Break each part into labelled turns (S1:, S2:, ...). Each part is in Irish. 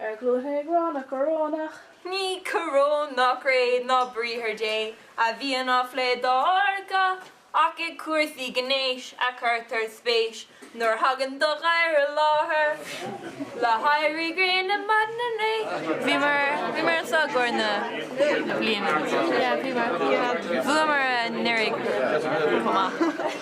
S1: Ar gcluain ag rá nach corónach. Ní coróin
S2: ná cré ná Briathar Dé a bhíonn á phlé dár gcath, ach i gcúrsaí gnéis a chuirtear spéis nuair a thagann do ghair i láthair. Le héirí gréine ar maidin inné, bhíomar anseo i gcomhair na bliana. Bhuamar anuraidh chomh maith.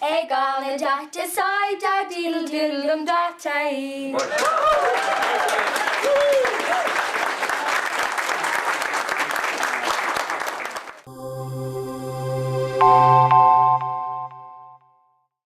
S3: Ag am na
S4: date sai da dil dil um datai.